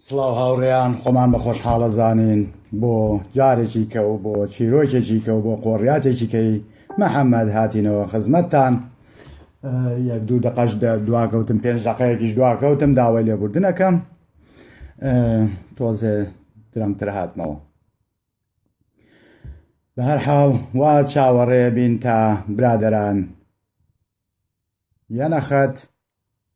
سڵاو هاوڕێیان خۆمان بە خۆشحاڵە زانین بۆ جارێکی کە و بۆ چیرۆکێکی کە و بۆ قۆڕیاتێکی کەی محەممەد هاتینەوە خزمەتتان یەک دوو دەقەش دواکەوتم پێنج دەقەیەکیش دواکەوتم داوای لێبوردنەکەم تۆزێ درەمتر هاتمەوە بە هەر حاڵ وا چاوەڕێ بین تا برادران یەنەخەت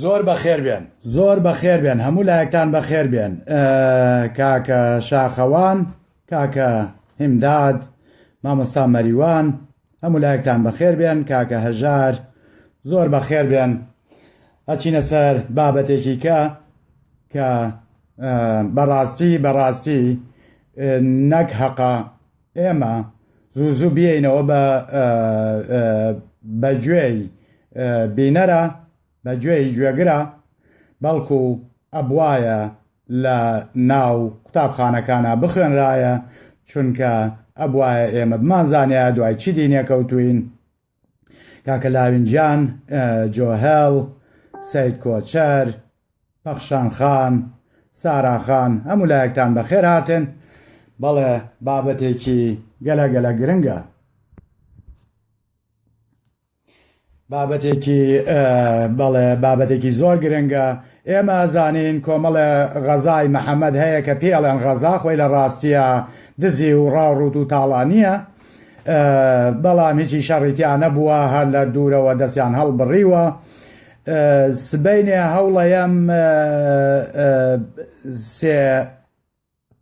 زۆر بەخێر بێن زۆر بەخێر بێن هەموو لایەکتان بەخێر بێن کاکە شاخەوان کاکە هیمداد مامۆستا مەریوان هەموو لایەکتان بەخێر بێن کاکە هەژار زۆر بەخێر بێن ئەچینە سەر بابەتێکی کە کە بەڕاستی بەڕاستی نەک هەقا ئێمە زوو زوو بیینەوە بە بە گوێی بینەرە بە گوێی گوێگرە بەڵکو ئەبواە لە ناو قوتابخانەکانە بخوێنرایە چونکە ئەبواە ئێمە بمانزانیا دوای چی دینێکەوتوین کاکە لاوینجان جۆهێڵ سید کۆچەر پەخشان خان ساراخان هەموو لایەکتان بەخێر هاتن بەڵێ بابەتێکی گەلە گەلە گرنگە بابەتێکی بەڵێ بابەتێکی زۆر گرنگە ئێمە زانین کۆمەڵە غەزای محەممەد هەیە کە پێڵێن غەزا خۆی لە ڕاستیە دزی و ڕاڕوت و تاڵانیە بەڵام هیچی شەڕیتیان نەبووە هەر لە دوورەوە دەستیان هەڵبڕیوە سبینێ هەوڵەیەم سێ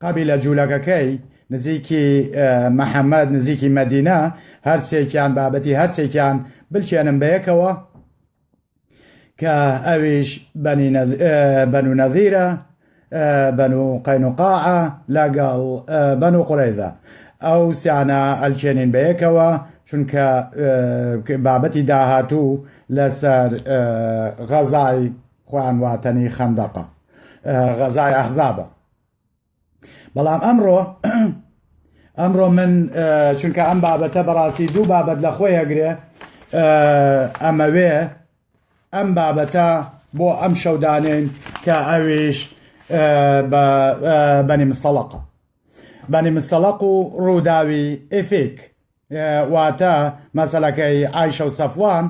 قەبی لە جوولەکەکەی نزیکی محەممەد نزیکی مەدینە هەرسێکیان بابەتی هەرسێکیان بلچێنم بەیەکەوە کە ئەویش بەنو نەذیرە بەنو قەینوقاعە لەگەڵ بەنو قورەیدا ئەو سیانە ئەلچێنین بەیەکەوە چونکە بابەتی داهاتوو لەسەر غەزای خوان واتەنی خەندەقە غەزای ئەحزابە بەڵام ئەمڕۆ ئەمڕۆ من چونکە ئەم بابەتە بەڕاستی دوو بابەت لە خۆی ئەگرێ ئەمەوێ ئەم بابەتە بۆ ئەم شەودانێن کە ئەویش بەنی مستەڵقە بەنی مستەڵق و ڕووداوی ئفیک واتە مەسەلەکەی ئایشە و سەفوان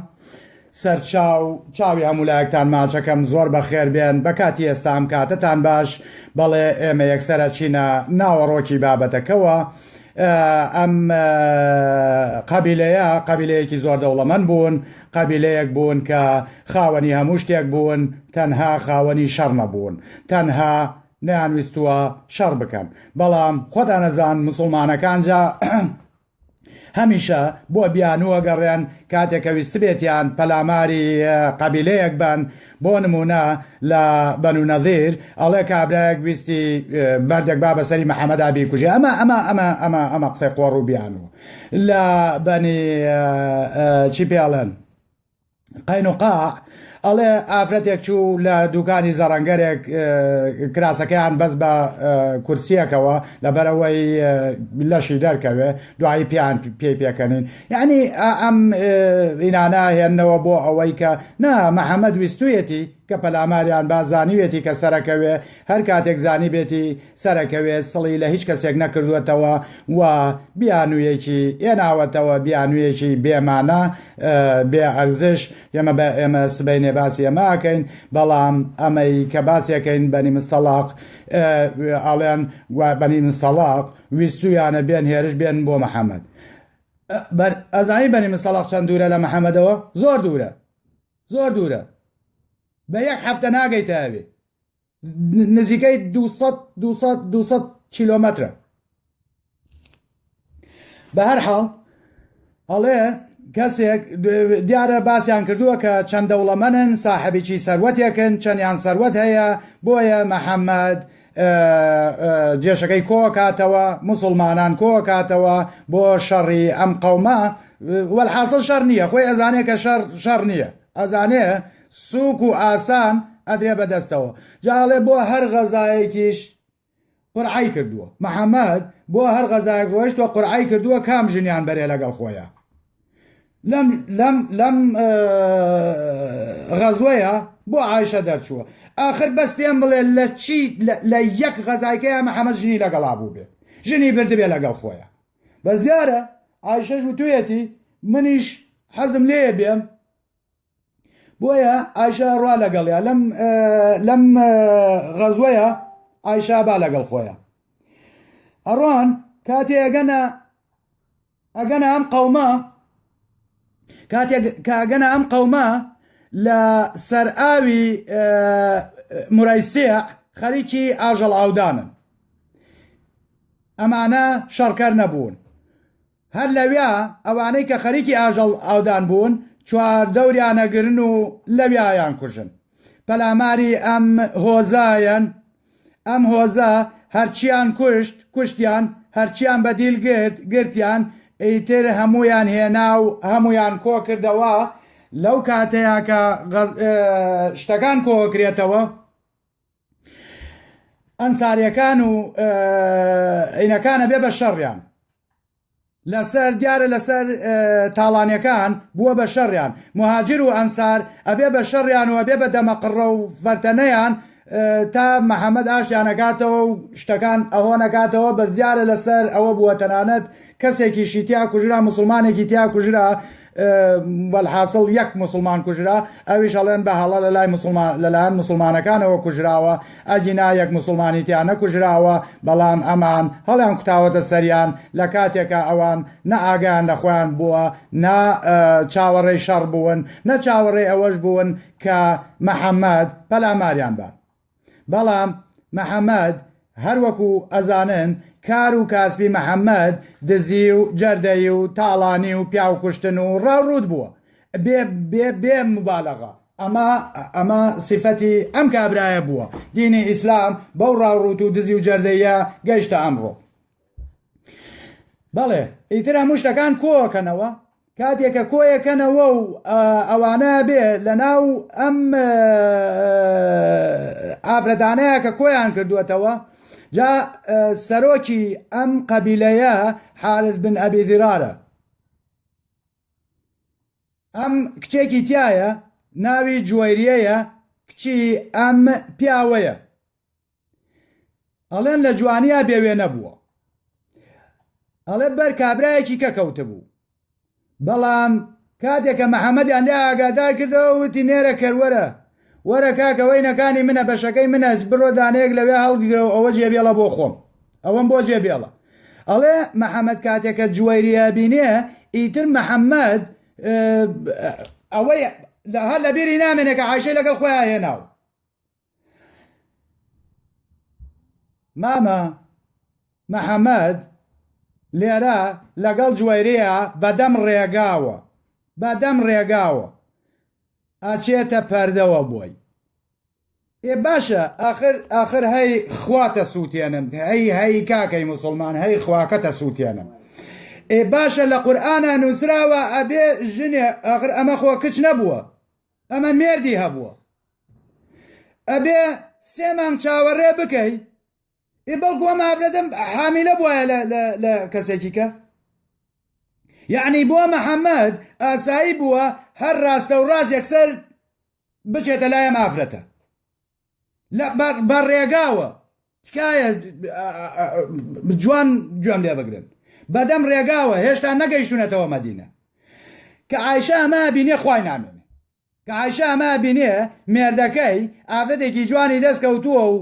سەرچاو چاوی هەموو لایەکتان ماچەکەم زۆر بەخێر بێن بە کاتی ئێستا ئەم کاتەتان باش بەڵێ ئێمە یەکسەرە چینە ناوەڕۆکی بابەتەکەوە ئەم قەبیلەیە قەبیلەیەکی زۆر دەوڵەمەند بوون قەبیلەیەک بوون کە خاوەنی هەموو شتێک بوون تەنها خاوەنی شەڕ نەبوون تەنها نەیانویستووە شەڕ بکەن بەڵام خۆتان نەزان مسلمانەکان جا هەمیشە بۆ بیانووە گەڕێن کاتێک کە ویستبێتیان پەلاماری قەبیلەیەک بن بۆ نمونە لە بەنو نەزیر ئەڵێ کابراەک ویستی بەردێک با بەسەری محەممەدا بیکوژێ ئەمە ئەمە ئەمە ئەمە ئەمە قسەی قۆڕ و بیانوو لە بەنی چی پێڵێن قاینوقاع، ئەڵێ ئافرەتێک چوو لە دووکانی زەڕەنگەرێک کراسەکەیان بەس بە کورسیەکەوە لەبەرەوەی لەشی دەرکەوێ دوایی پێیان پێی پێکەنین یعنی ئەم ئینانە هێنەوە بۆ ئەوەی کە نا محەممەد ویستویەتی کە پەلاماریان بازانیوێتی کە سەرەکەوێ هەر کاتێک زانی بێتی سەرەکەوێ سڵی لە هیچ کەسێک نەکردووەتەوە و بیانوویەکی ئێناوەتەوە بیانوویەکی بێمانە بێ ئەرزش ئێمە بە ئێمە سبینێ باسی ئەماکەین بەڵام ئەمەی کە باسیەکەین بەنی مستەڵاق ئاڵێن بەنی مستەڵاق ویستویانە بێن هێرش بێن بۆ محەممەد ئەزانی بەنی مستەڵاق چەند دوورە لە محەممەدەوە زۆر دوورە زۆر دوورە بە یەک هەفتە ناگەیتە ئەوێ نزیکەی 200 کیلۆمەترە بە هەر حاڵ ئەڵێ کەسێک دیارە باسییان کردووە کە چەند دەوڵەمەنن ساحبیی سەروەتێکن چەندیان سەروەت هەیە بۆیە محەممەد جێشەکەی کۆکاتەوە مسلمانان کۆکاتەوە بۆ شەڕی ئەم قەومە وەحاصل شەر نییە خۆی ئەزانێت کە شەر شەر نییە ئەزانێ سوک و ئاسان ئەدرێ بە دەستەوە جا ئەڵێ بۆ هەر غەزایەکیش قورعەی کردووە محەمەد بۆ هەر غەزایەک ڕۆیشتوە قورعەی کردووە کام ژنیان بەرێ لەگەڵ خۆیە لەم لەم لەم غەزوەیە بۆ عیشە دەرچووە آخر بەس پێم بڵێ لە چی لە یەک غەزایکەیە محەمەد ژنی لەگەڵا بوو بێت ژنی بردبێ لەگەڵ خۆیە بەس دیارە عیشەش وتوێتی منیش حەزم لێ بێم بۆیە ئایشە ڕوا لەگەڵیا لەم لەم غەزوەیە ئایشا با لەگەڵ خۆیە ئەڕۆن کاتێ ئەگەنە ئەگەنە ئەم قەوما کاتێک کاگەنە ئەم قەوما لە سەر ئاوی مرایسیە خەریکی ئاژەڵ ئاودانن ئەمانە شەڕکەر نەبوون هەر لەویا ئەوانەی کە خەریکی ئاژەڵ ئاودان بوون چواردەوریان ئەگرن و لەویایان کوژن پەلاماری ئەم هۆزایەن ئەم هۆزە هەرچیان کوشت کوشتیان هەرچیان بەدیل گرت گرتیان ئیتر هەموویان هێنا و هەموویان کۆ کردەوە لەو کاتەیە کە شتەکان کۆکرێتەوە ئەنساریەکان و عینەکانە بێ بە شەڕیان لەسەر دیارە لەسەر تاڵانەکان بووە بە شەڕیان مهاجر و ئەنسار ئەبێ بە شەڕیان و ئەبێ بە دەمەقڕە و فەرتەنەیان تا محەممەد ئاشیانەکاتەوە و شتەکان ئەهۆ نەکاتەوە بەس دیارە لەسەر ئەوە بووە تەنانەت کەسێکی شیتیا کوژرا مسلمانێکی تیا کوژرا وەلحاسڵ یەک موسڵمان کوژرا ئەویش ئەڵێن بە هەڵە لە لای مسلمان لەلایەن مسلمانەکانەوە کوژراوە ئەگینا یەک مسلمانی تیا نەکوژراوە بەڵام ئەمان هەڵیان کوتاوەتە سەریان لە کاتێکە ئەوان نە ئاگیان لە خۆیان بووە نا چاوەڕێی شەڕ بوون نە چاوەڕێ ئەوەش بوون کە محەممەد پەلاماریان بە بەڵام محەمەد هەر وەکو ئەزانن کار و کاسبی محەمەد دزی و جەردەی و تاڵانی و پیاو کوشتن و ڕاو ڕووت بووە بێ بێ بێ مبالغە ئەمە ئەمە سیفەتی ئەم کابرایە بووە دینی ئیسلام بەو ڕاوڕوت و دزی و جەردەیە گەیشتە ئەمڕۆ بەڵێ ئیتر هەموو شتەکان کۆکەنەوە کاتێکە کۆیەکەنەوە و ئەوانە بێ لە ناو ئەم ئافرەتانەیە کە کۆیان کردوێتەوە جا سەرۆکی ئەم قەبیلەیە حارز بن ئەبی زیرارە ئەم کچێکی تایە ناوی جوێریەیە کچی ئەم پیاوەیە ئەڵێن لە جوانیا بێ وێنە بووە ئەڵێ بەر کابرایەکی کە کەوتبوو بەڵام کاتێکە محەممەدیان لێ ئاگادار کردەوە وتی نێرە کەروەرە وەرە کاکەوەی نەکانی منە بەشەکەی منە بڕۆ دانەیەک لەوێ هەڵگرە و ئەوە جێبێڵە بۆ خۆم ئەوەم بۆ جێبێڵە ئەڵێ محەممەد کاتێکە جوێریە بینێ ئیتر محەممەد ئەوەی هەر لەبیری نامێنێکە عیشەی لەگەڵ خۆیان هێناوە مامە محەممەد لێرە لەگەڵ جوێرەیە بەدەم ڕێگاوە بەدەم ڕێگاوە ئەچێتە پەردەوە بۆی ئێ باشە ئاخر ئاخر هەی خواتە سووتێنم هەی هەی کاکەی مسلمان هەی خواکەتە سووتێنم ئێ باشە لە قورآە نووسراوە ئەبێ ژنێ ئاخر ئەمە خۆ کچ نەبووە ئەمە مێردی هەبووە ئەبێ سێ مانگ چاوەڕێ بکەی ئێ بەڵکو ئەم ئافرەتم حامیلە بواە لە کەسێکیکە یعنی بۆ محەممەد ئاسایی بووە هەر ڕاستە و ڕاز یەکسەر بچێتە لایەم ئافرەتە بە ڕێگاوە تکایە جوان گوێم لێ بگرن بەدەم ڕێگاوە هێشتا نەگەیشتونەتەوە مەدینە کە ئایشە ئەمە بینێ خی نامێنێ کە ئایشە ئەمە بینێ مێردەکەی ئافرەتێکی جوانی دەست کەوتووە و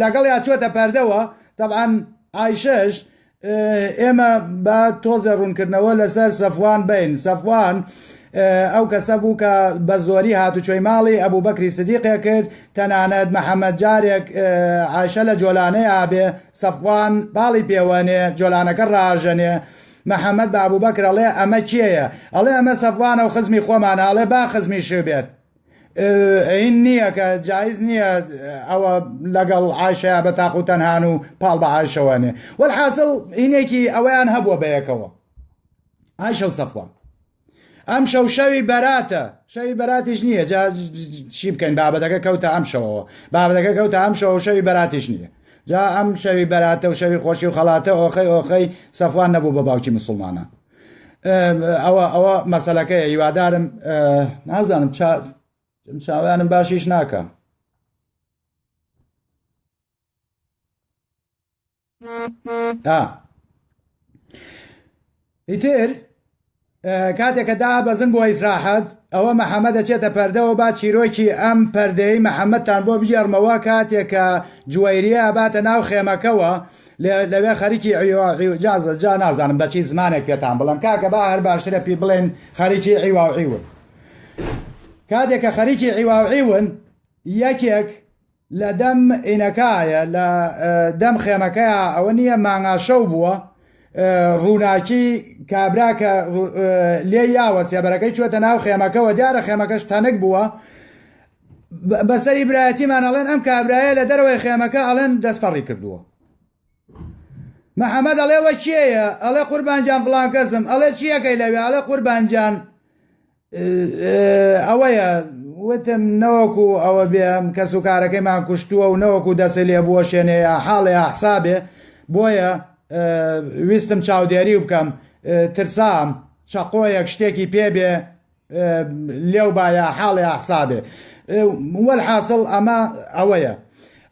لەگەڵ یا چۆتە پەردەوە طبعاان ئایشەش ئێمە با تۆزێ ڕوونکردنەوە لەسەر سەفوان بین سەفوان ئەو کەسە بوو کە بە زۆری هاتوچۆی ماڵی ئەبوو بەکری سدیقێ کرد تەنانەت محەممەد جارێک عاشە لە جۆلانەی ئابێ سەفوان باڵی پێوەنێ جۆلانەکە ڕاژەنێ محەممەد بابوو بەکرەڵێ ئەمە کێیە ئەڵێ ئەمە سەفوانە و خزمی خۆمانە ئەڵێ با خزمی شوێت ئەین نییە کە جایز نییە ئەوە لەگەڵ عاشە بە تاق و تەنهان و پاڵ بە عاشەوانێ وەل حاصل هینێکی ئەوەیان هەبووە بەیەکەوە عاشە و سەفوان ئەم شەو شەوی بەراتە شەوی بەراتیش نییە جا چی بکەین بابەتەکە کەوتە ئەم شەوەوە بابەتەکە کەوتە ئەم شەوە شەوی بەراتیش نییە جا ئەم شەوی بەراتە و شەوی خۆشی و خەڵاتە ئۆخەی ئۆخەی سەفوان نەبوو بە باوکی مسلمانان ئەوە ئەوە مەسەلەکەی هیوادارم نازانم چاوانم باشیش ناکە ئیتر کاتێکە دا بەزن بۆ ئیسراحەت ئەوە محەممەد دەچێتە پەردەوە با چیرۆکی ئەم پەردەی محەممەدتان بۆ بژێڕمەوە کاتێکە جوێریە باتە ناو خێمەکەەوە لەوێ خەریکی عیوا و عیوجازە جا نازانم بە چی زمانێک پێتان بڵێم کاکە با هەر باشترە پێی بڵێن خەریکی عیوا و عیون کاتێک کە خەریکی عیوا و عیون یەکێک لە دەم ئینەکایە لە دەم خێمەکەیە ئەوە نییە مانگاشەو بووە ڕووناکی کابرا کە لێ یاوە سێبەرەکەی چوەتە ناو خێمەکەەوە دیارە خێمەکەش تەنک بووە بە سەری برایەتیمان ئەڵێن ئەم کابرایە لە دەرەوەی خێمەکە ئەڵێن دەستپەڕی کردووە محەممەد ئەڵێ وە چێە ئەڵێ قوربانجان فلان کەسم ئەڵێ چیەکەی لەوێ ئەڵێ قوربانجان ئەوەیە وتم نەوەکو ئەوە بێم کەس و کارەکەیمان کوشتووە و نەوەکو دەسێ لێ بووە شوێنەیە حاڵێ حسابێ بۆیە ویستم چاودێری بکەم ترسام چەقۆیەک شتێکی پێبێ لێو با یا حاڵێ ئەحسابێ وەلحاسڵ ئەمە ئەوەیە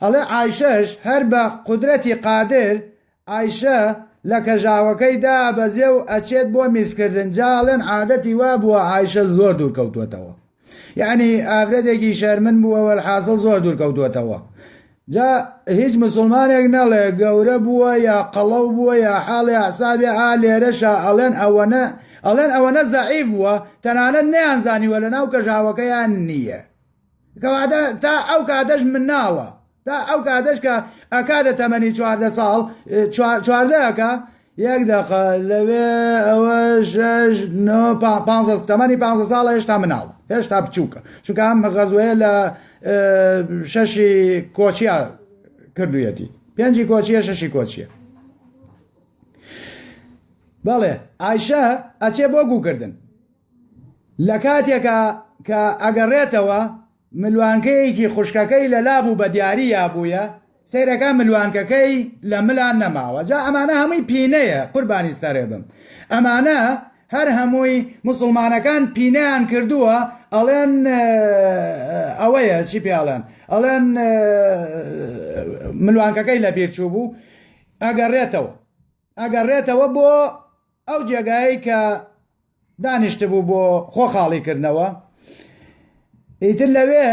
ئەڵێ ئایشەش هەر بە قدرەتی قادر ئایشە لە کەژاوەکەی دابەزێ و ئەچێت بۆ میزکردن جاڵێن عادەتی وا بووە ئایشە زۆر دوور کەوتوەتەوە یعنی ئافرەتێکی شەرمن بووەوە حاصل زۆر دوور کەوتوەتەوە جا هیچ مسوڵمانێک نەڵێ گەورە بووە یا قەڵەو بووە یا حاڵی ئەعسابی ئا لێرەشا ئەڵێن ئەوەنە ئەڵێن ئەوەنە زەعیف بووە تەنانەت نەیانزانیوە لە ناو کەژاوەکەیان نییە کەواتە تا ئەو کاتەش مناڵە تا ئەو کاتەش کە ئەکاتە تەمەنی چواردە ساڵ چواردەکە یەک دەقە لەوێ ئەوە شەش نۆ پا- پانزە تەمەنی پانزە ساڵە هێشتا مناڵە هێشتا بچووکە چونکە ئەم غەزوەیە لە ئە، شەشی کۆچیا کردویەتی پێنجی کۆچیە شەشی کۆچیە بەڵێ ئایشە ئەچێ بۆ گووکردن لە کاتێکا کە ئەگەڕێتەوە ملوانکەیەکی خوشکەکەی لە لا بوو بە دیاری یا بوویە سەیرەکە ملوانکەکەی لە ملا نەماوە جا ئەمانە هەمووی پینەیە قوربانی سەرێ بم ئەمانە هەر هەمووی موسڵمانەکان پینەیان کردووە ئەڵێن ئەوەیە چی پێڵێن ئەڵێن ملوانکەکەی لە بیر چوو بوو ئەگەڕێتەوە ئەگەڕێتەوە بۆ ئەو جێگایی کە دانیشتبوو بۆ خۆ خاڵی کردنەوە ئیتر لەوێ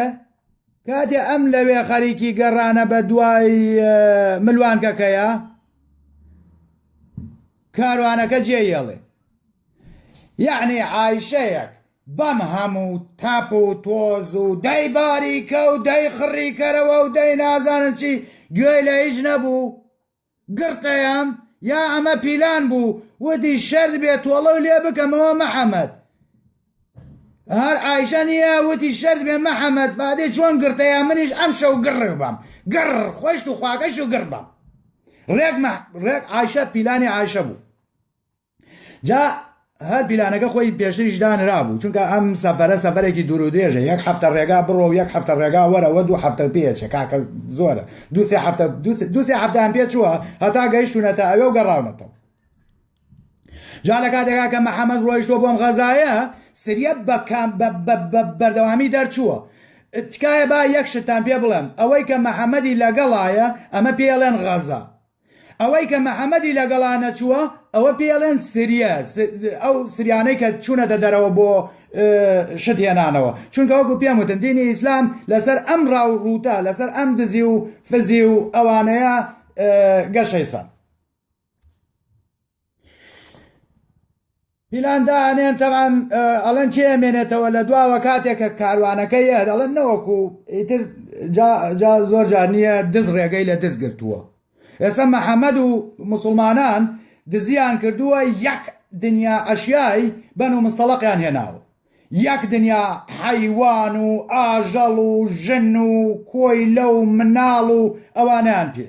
کاتێ ئەم لەوێ خەریکی گەڕانە بە دوای ملوانکەکەیە کاروانەکە جێ یێڵێ یعنی عیشەیەک بەم هەموو تاپ و تۆز و دەی باریکە و دەی خڕیکەرەوە و دەی نازانم چی گوێی لە هیچ نەبوو گڕتەیەم یا ئەمە پیلان بوو وتی شەرت بێ تۆڵەو لێ بکەمەوە مەحەمەد هەر ئایشە نییە وتی شەرت بێ مەحەمەد فادێ چۆن گرتەیە منیش ئەم شەو گڕ بم گڕ خۆشت و خواکەش و گڕ بم ڕێک ڕێک ئایشە پیلانی ئایشە بوو جا هەر پیلانەکە خۆی پێشتریش دانرابوو چونکە ئەم سەفەرە سەفەرێکی دوور و درێژە یەک هەفتە ڕێگا بڕۆ و یەک هەفتە ڕێگا وەرەوە دوو هەفتە پێچێ کاکە زۆرە دوسێ هەفتە دوسێ هەفتان پێ چووە هەتا گەیشتونەتە ئەوێ و گەڕاونەتەوە جا لە کاتێکا کە محەممەد ڕۆیشتۆ بۆم غەزایە سریە بەکان بەردەوامی دەرچووە تکایە با یەک شتان پێ بڵێم ئەوەی کە محەممەدی لەگەڵایە ئەمە پێڵێن غەزە ئەوەی کە محمدی لەگەڵا نەچووە ئەوە پێی ئەڵێن سریە ئەو سریانەی کە چوونەتە دەرەوە بۆ شت هێنانەوە چونکە وەکو پێم وتن دینی ئیسلام لەسەر ئەم ڕاو ڕووتە لەسەر ئەم دزی و فزی و ئەوانەیە گەشەی سەر پیلان دانێن تەمان ئەڵەن چێ مێنێتەوە لە دواوە کاتێکە کاروانەکە یە دەڵێن نەوەکو ئیتر زۆر جار نییە دز ڕێگەی لە دز گرتووە ئێستا محەممەد و مسلمانان دزیان کردووە یەک دنیا ئەشیایی بەن و مستەڵقیان هێناوە یەک دنیا حەیوان و ئاژەڵ و ژن و کۆیلە و مناڵ و ئەوانیان پێ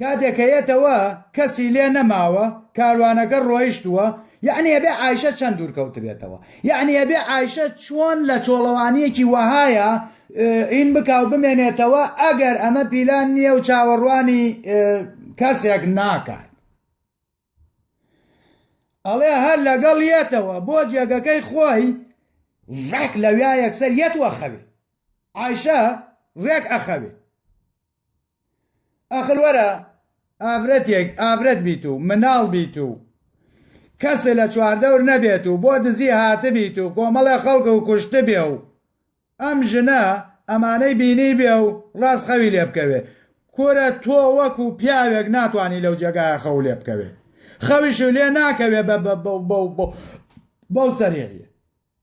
کاتێ کە یەتەوە کەسی لێ نەماوە کاروانەکە ڕۆیشتووە یەعنی ئەبێ عایشە چەند دوور کەوتبێتەوە یەعنی ئەبێ عایشە چۆن لە چۆڵەوانیەکی وەهایە ئین بکا و بمێنێتەوە ئەگەر ئەمە پیلان نییە و چاوەڕوانی کەسێک ناکات ئەڵێ هەر لەگەڵ یەتەوە بۆ جێگەکەی خۆی ڕێک لەویا یەکسەر یەتوە خەوێ عیشە ڕێک ئەخەوێ ئاخر وەرە ئافرەتێک ئافرەت بیت و مناڵ بیت و کەس لە چواردەور نەبێت و بۆ دزی هاتبیت و کۆمەڵێ خەڵک و کوشتبێ و ئەم ژنە ئەمانەی بینی بێ و ڕاست خەوی لێ بکەوێ کورە تۆ وەکو پیاوێک ناتوانی لەو جێگایە خەو لێ بکەوێ خەویش لێ ناکەوێ بە بەو سەریعیە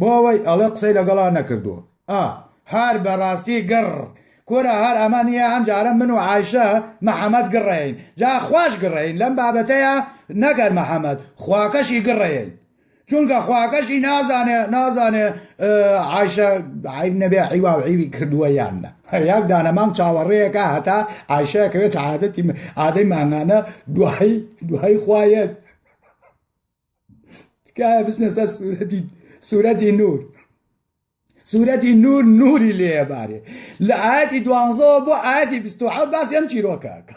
بۆ ئەوەی ئەڵێ قسەی لەگەڵا نەکردووە ئا هار بەڕاستی گڕ کورە هەر ئەمە نییە ئەم جارە من و عایشە محەمەد گڕەین جا خواش گڕەین لەم بابەتەیە نەگەر محەمەد خواکەشی گڕەین چونکە خواکەشی نازانێ نازانێ عیشە عیب نەبێ عیوا و عیوی کردووە یان نە یاک دانەمام چاوەڕێیەکە هەتا عیشەکەوێت عادەتی ئادەی مانگانە دوای دوای خوایەت تکایە بچنە سەر سوورەتی سوورەتی نور سوورەتی نور نوری لێبارێ لە ئاەتی دوانزەوە بۆ ئاەتی بستوحەوت باسی ئەم چیرۆکەکە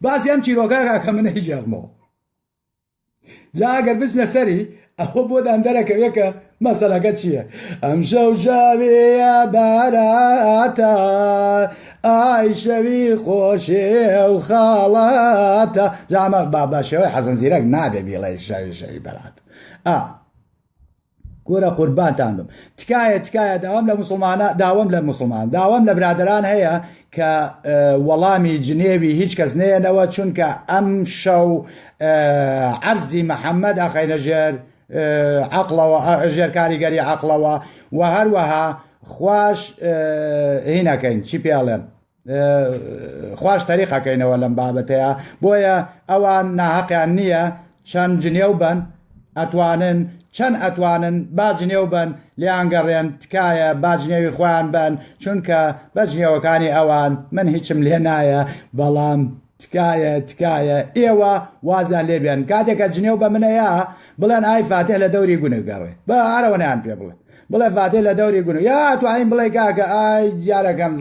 باسی ئەم چیرۆکەکە کە منە هیچ ژێغمەوە جاگەر بچنە سەری ئەوە بۆدان دەرەکەوێت کە مەسەلەکە چییە ئەم شەو شەوێە باراتە ئای شەوی خۆشێ و خاڵاتە جامە بابا شێوەی حەزن زیرەک نابێ بیڵێ شەوی شەوی بەرات ئا گۆرە قوربانتان بم تکایە تکایە داوام لە مسلمانە داوام لە مسلمان داوام لە برادران هەیە کە وەڵامی جنێوی هیچ کەس نێنەوە چونکە ئەم شەو عەرزی محەممەد ئەخینە ژێر عەقڵەوە ژێر کاریگەری عەقڵەوە و هەروەها خوش هینەکەین چی پێڵێن خوش تەریقەکەینەوە لەم بابەتەیە بۆیە ئەوان ناهەقیان نییە چەند جنێو بن ئەتوانن چەند ئەتوانن باجنێو بن لیانگەڕێن تکایە باجنێوی خۆیان بن چونکە بەجنێوەکانی ئەوان من هیچم لێ نایە بەڵام تکایە تکایە ئێوە وازیان لێ بێن کاتێک کە جنێو بە منەیە بڵێن ئای فاتح لە دەوری گونە گەڕێ بە ئارەوەنیان پێ بڵێ بڵێ فاتح لە دەوری گونە یا توانین بڵێ کاکە ئای جارەکەم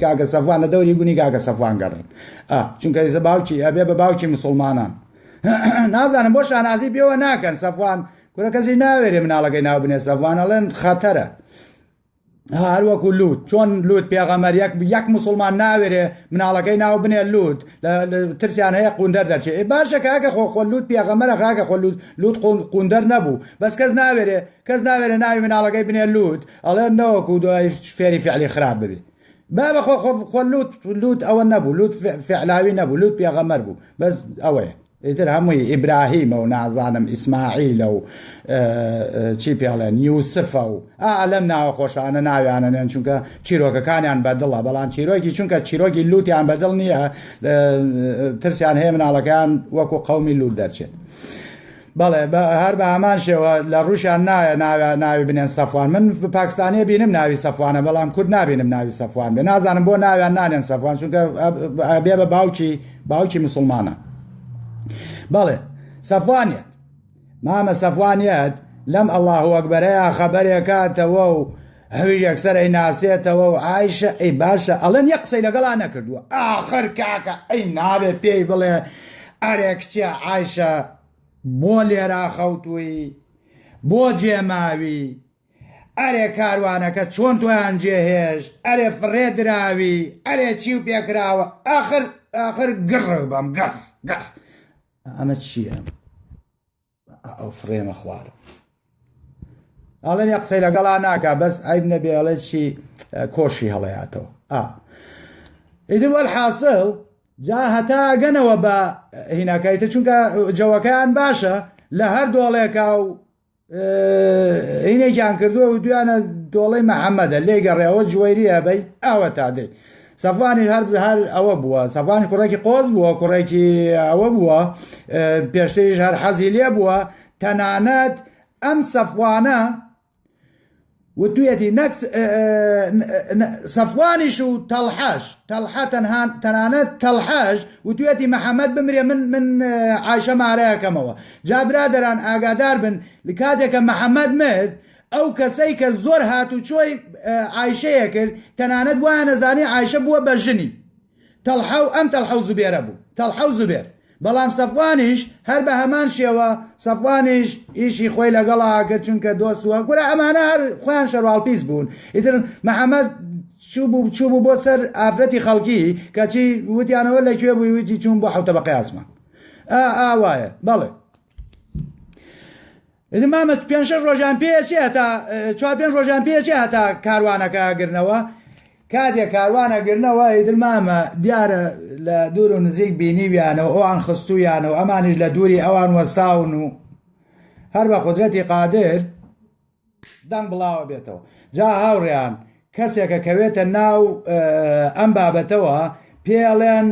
کاکە سەفوان لە دەوری گونی کاکە سەفوان گەڕێن چونکە ئێزە باوکی ئەبێ بە باوکی مسلمانان نازانم بۆ شانازی پێوە ناکەن سەفوان کورە کەسی ناوێرێ مناڵەکەی ناو بنێ سەفوانەڵێن خەتەرە هەروەکو لوت چۆن لوت پێغەمەر یەک یەک مسلمان ناوێرێ مناڵەکەی ناو بنێ لوت ترسیان هەیە قوندەر دەچێ باشە کاکە خۆ خۆ لوت پێغەمەرە خاکە خۆ لوت لوت قوندەر نەبوو بەس کەس ناوێرێ کەس ناوێرێ ناوی مناڵەکەی بنێ لوت ئەڵێ نەوەکو دوای فێری فعلی خراپ ببێ بابە خۆ خۆ خۆ لوت لوت ئەوە نەبوو لوت فعلاوی نەبوو لوت پێغەمەر بوو بەس ئەوەیە ئیتر هەمووی ئیبراهیمە و نازانم ئیسماعیلە و چی پێڵێن یوسفە و ئا لەم ناوە خۆشانە ناویانە نێن چونکە چیرۆکەکانیان بەدڵە بەڵام چیرۆکی چونکە چیرۆکی لووتیان بەدڵ نییە ترسیان هەیە مناڵەکەیان وەکو قومی لووت دەرچێت. بەڵێ هەر بە هەمان شێوە لە ڕوشان نایە ناوی ناوی بنێن سەفوان من پاکستانیە بینم ناوی سەفوانە بەڵام کورد نبینم ناوی سەفوان بێ نازانم بۆ ناویان نانێن سەفوان چونکە بێ بە باوکی باوکی مسلمانە بەڵێ سەفوانێت مامە سەفوانێت لەم ئەله وەکبەرەیە خەبەرێکاتەوە و هەوی یەکسەرەی ناسێتەوە و ئایشە ئەی باشە ئەڵەن یە قسەی لەگەڵا نەکردووە ئاخر کاکە ئەی ناوێ پێی بڵێ ئەرێ کچە ئایشە بۆ لێرا خەوتووی بۆ جێماوی ئەرێ کاروانەکە چۆن تۆیان جێ هێشت ئەرێ فڕێ دراوی ئەرێ چی و پێکراوە ئاخر ئاخر گڕ بەم گڕ گڕ ئەمە چییە ئەو فڕێمە خوارە ئەڵێن یە قسەی لەگەڵا ناکە بەس ئایب نەبێ ئەڵێ چی کۆشی هەڵەیاتەوە ئا ئیدر وەل حاصل جا هەتا گەنەوە بە هیناکایتە چونکە جەوەکەیان باشە لە هەر دۆڵێکا و هینێکیان کردووە و دویانە دۆڵی محەممەدە لێ گەڕێەوە جوێریە بەی ئاوە تادەی سەفانی هەر هەر ئەوە بووە سەفانی کوڕێکی قۆز بووە کوڕێکی ئەوە بووە پێشتریش هەر حەزی لێ بووە تەنانەت ئەم سەفوانە وتویەتی نەک سەفوانیش و تەڵحەش تەڵحە تەنها تەنانەت تەڵحەش وتویەتی محەممەد بمرێ من من عیشە مارەکەمەوە جا برادران ئاگادار بن لە کاتێکە محەممەد مرد ئەو کەسەی کە زۆر هات و چۆی عیشەیە کرد تەنانەت وایە نەزانی عیشە بووە بە ژنی تەڵحە و ئەم تەڵحە و زوبێرە بوو، تەڵحە و زوبێر، بەڵام سەفوانیش هەر بە هەمان شێوە، سەفوانیش ئیشی خۆی لەگەڵا ئەکرد، چونکە دۆست و ئەکورا ئەمانە هەر خۆیان شەرواڵپیس بوون، ئیتر محەمەد چووبوو چووبوو بۆ سەر ئافرەتی خەڵکی، کەچی وتیانەوە لە کوێ بووی؟ وتی چووم بۆ حەوتەبەقەی ئاسمان. ئا ئا وایە، بەڵێ. ئیتر مامە پێنج شەش ڕۆژان پێچێ هەتا چوار پێنج ڕۆژان پێچێ هەتا کاروانەکە گرنەوە کاتێک کاروانە گرنەوە ئیتر مامە دیارە لە دوور و نزیک بینیویانەوە ئەوان خستویانەوە ئەمانیش لە دووری ئەوان وەستاون و هەر بە قدرەتی قادر دەنگ بڵاوە بێتەوە جا هاوڕێیان کەسێکە کەوێتە ناو ئەم بابەتەوە پێڵێن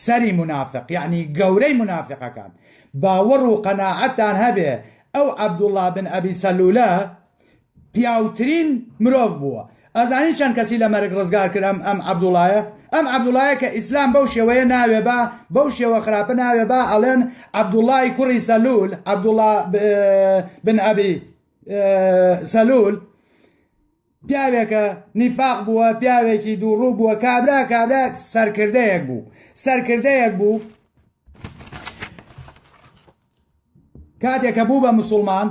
سەری منافق یعنی گەورەی منافقەکان باوەڕ و قەنەعەتان هەبێ ئەو عەبدوڵا بن ئەبی سەلولە پیاوترین مرۆڤ بووە ئەزانی چەند کەسی لە مەرگ ڕزگار کرم ئەم عەبدوڵایە ئەم عەبدوڵایە کە ئیسلام بەو شێوەیە ناوێ بە بەو شێوە خراپە ناوێ بە ئەڵێن عەبدوڵای کوڕی سەلول عەبدوڵا بن ئەبی سەلول پیاوێکە نیفاق بووە پیاوێکی دووڕوو بووە کابرا کابرا سەرکردەیەک بوو سەرکردەیەک بوو کاتێکە بوو بە مسلمان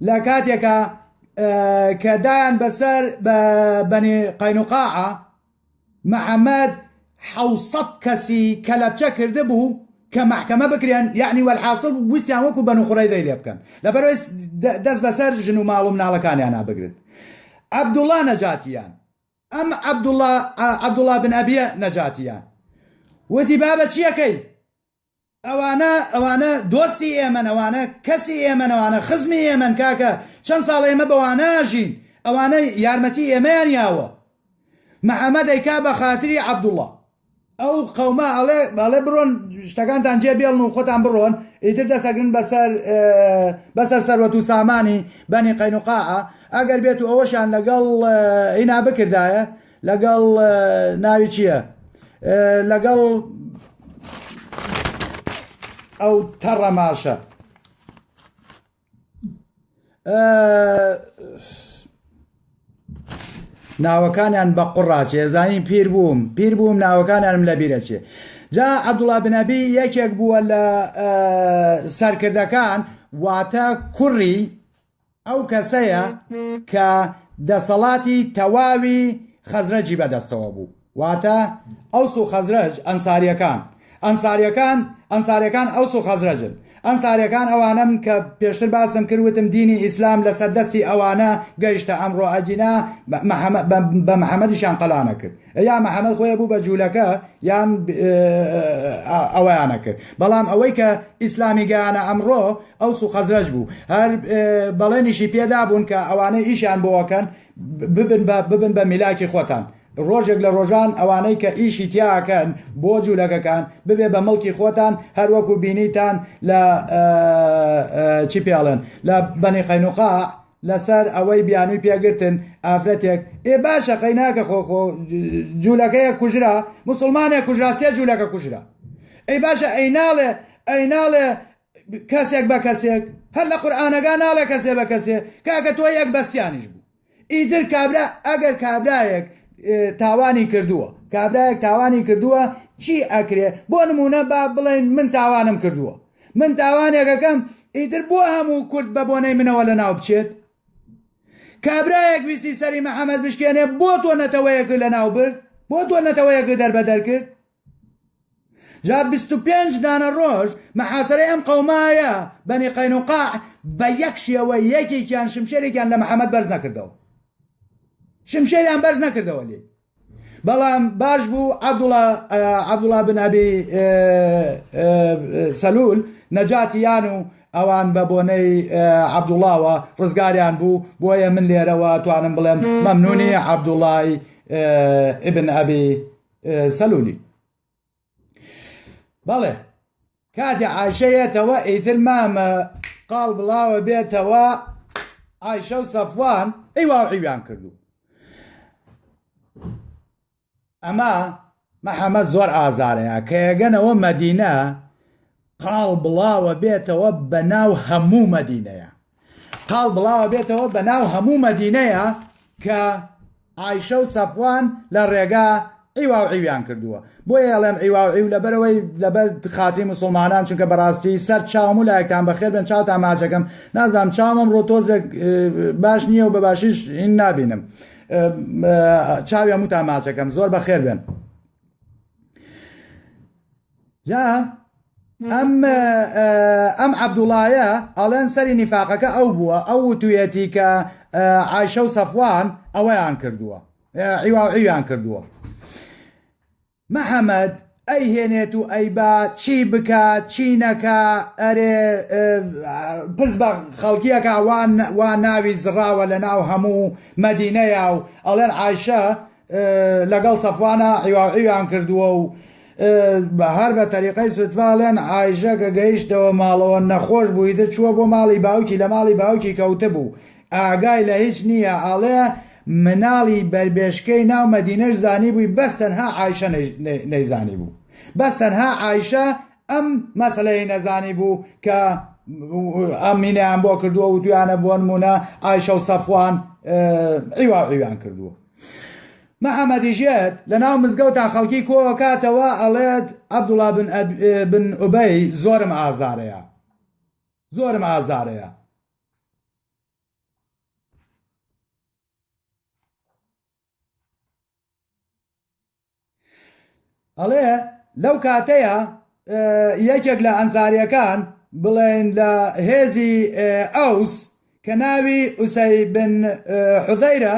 لە کاتێکە کە دایان بەسەر بەنی قەینوقاعە محمد حەوت سەد کەسی کەلەپچە کردبوو کە مەحکەمە بکرێن یەعنی وەلحاسڵ ویستیان وەکو بەنو قوڕەیزەی لێ بکەن لەبەرەوەی دەست بەسەر ژن و ماڵ و مناڵەکانیانا بگرن عەبدوڵا نەجاتیان ئەم عەبدوڵا عەبدوڵا بن ئەبیە نەجاتیان وتی بابە چیەکەی ئەوانە ئەوانە دۆستی ئێمەن ئەوانە کەسی ئێمەن ئەوانە خزمی ئێمەن کاکە چەند ساڵە ئێمە بەوانە ئەژین ئەوانە یارمەتی ئێمەیان یاوە محەمە دەیکا بە خاتری عەبدوڵڵا ئەو قەومە ئەڵێ ئەڵێ بڕۆن شتەکانتان جێ بێڵن و خۆتان بڕۆن ئیتر دەسەگرن بەسەر بەسەر سەروەت و سامانی بەنی قەینوقاعە ئەگەر بێت و ئەوەشان لەگەڵ ئینا بکردایە لەگەڵ ناوی چییە لەگەڵ ئەو تەڕەماشە ناوەکانیان بە قڕاچێ زانین پیر بووم پیر بووم ناوەکانیانم لە بیرەچێ جا عبدوڵا بنەبی یەکێک بووە لە سەرکردەکان واتە کوڕی ئەو کەسەیە کە دەسەڵاتی تەواوی خەزرەجی بەدەستەوە بوو، واتە ئەوس و خەزرەج ئەنساریەکان، ئەنساریەکان ئەنساریەکان ئەوس و خەزرەجن، ئەنساریەکان ئەوانەن کە پێشتر باسم کرد وتم دینی ئیسلام لەسەر دەستی ئەوانە گەیشتە ئەمڕۆ ئەگینا بە محمدیشیان قەلانەکرد. یا محمد خۆی بوو بە جوولەکە یان ئەویانە کرد بەڵام ئەوەی کە ئیسلامی گەیانە ئەمڕۆ ئەو سو خەزرەج بوو هەر بەڵێنیشی پێدا بوون کە ئەوانەی ئیشیان بۆەکەن ببن بە ببن بە میلاکی خۆتان ڕۆژێک لە ڕۆژان ئەوانەی کە ئیشی تیاکەن بۆ جوولەکەکان ببێ بە مڵکی خۆتان هەروەکو بینیتان لە چی پێڵێن لە بەنی قەینوقا لەسەر ئەوەی بیانوی پێ گرتن ئافرەتێک ئێ باشە قەیناکە خۆ خۆ جوولەکەیە کوژرا مسلمانێک کوژرا سێ جوولەکە کوژرا ئەی باشە ئەی ناڵێ ئەی ناڵێ کەسێک بە کەسێک هەر لە قورآانەکە ناڵێ کەسێ بە کەسێ کاکە تۆ یەک بەسیانیش بوو ئیدر کابرا ئەگەر کابراایەک تاوانی کردووە کابراایەک تاوانی کردووە چی ئەکرێ بۆ نمونە با بڵێن من تاوانم کردووە من تاوانێک ئەکەم ئیتر بۆ هەموو کورد بە بۆنەی منەوە لە ناو بچێت؟ کابرایەک ویستی سەری محەمەد بشکێنێ بۆ تۆ نەتەوەیەک لە ناو برد؟ بۆ تۆ نەتەوەیەک دەربەدەر کرد؟ جا 25 دانە ڕۆژ مەحاسەرەی ئەم قەومایە بەنی قەینوقاع بە یەک شێوە یەکێکیان شمشێرێکیان لە محەمەد بەرز نەکردەوە شمشێریان بەرز نەکردەوە لێ بەڵام باش بوو عەبدوڵا عەبدوڵا بن ئەبی سەلول نەجاتی یان و ئەوان بە بۆنەی عەبدوڵاوە ڕزگاریان بوو بۆیە من لێرەوە توانم بڵێم مەمنونی عەبدوڵای ئبن ئەبی سەلولی بەڵێ کاتێ عاشەیەتەوە ئیتر مامە قاڵ بڵاوە بێتەوە عیشە و سەفوان ئەی واوعیویان کردو ئەمە محەممەد زۆر ئازارەیە کە یەگەنەوە مەدینە قاڵ بڵاوە بێتەوە بە ناو هەموو مەدینەیە قاڵ بڵاوە بێتەوە بە ناو هەموو مەدینەیە کە ئایشە و سەفوان لە ڕێگا عیوا و عیویان کردووە بۆیە ئەڵێم عیوا و عیو لەبەرەوەی لەبەر خاتری مسلمانان چونکە بەڕاستی سەر چاوم و لایەکتان بەخێر بێن چاوتان ماچەکەم نازانم چاومم ڕۆ تۆزێک باش نییە و بە باشیش ئین نابینم چاوی هەمووتان ماچەکەم زۆر بەخێر بێن جا ئەم ئەم عەبدوڵایە ئەڵێن سەری نیفاقەکە ئەو بووە ئەو وتویەتی کە عیشە و سەفوان ئەوەیان کردووە عیواعیویان کردووە محەممەد ئەی هێنێت و ئەی با چی بکە چی نەکە ئەرێ پرس بە خەڵکیەکە وان وا ناوی زڕاوە لە ناو هەموو مەدینەیە و ئەڵێن عیشە لەگەڵ سەفوانا عیواعیویان کردووە و هەر بە تەریقەی سوتڤالێن ئایژە کە گەیشتەوە ماڵەوە نەخۆش بووی دە چووە بۆ ماڵی باوکی لە ماڵی باوکی کەوتە بوو ئاگای لە هیچ نییە ئاڵێ مناڵی بەربێشکەی ناو مەدینەش زانی بووی بەس تەنها ئایشە نەیزانی بوو بەس تەنها ئایشە ئەم مەسلەی نەزانی بوو کە ئەمینیان بۆ کردووە و دویانە بۆن مونە ئایشە و سەفوان عیواعیویان کردووە محمد ژێت لە ناو مزگەوتا خەڵکی کۆکاتەوە ئەڵێت عبدالله بن, أب... بن ئوبەی زۆرم ئازارەیە زۆرم ئازارەیە ئەڵێ لەو کاتەیە یەکێک لە ئەنساریەکان بڵێن لە هێزی ئەوس کە ناوی ئوسەی بن حوزەیرە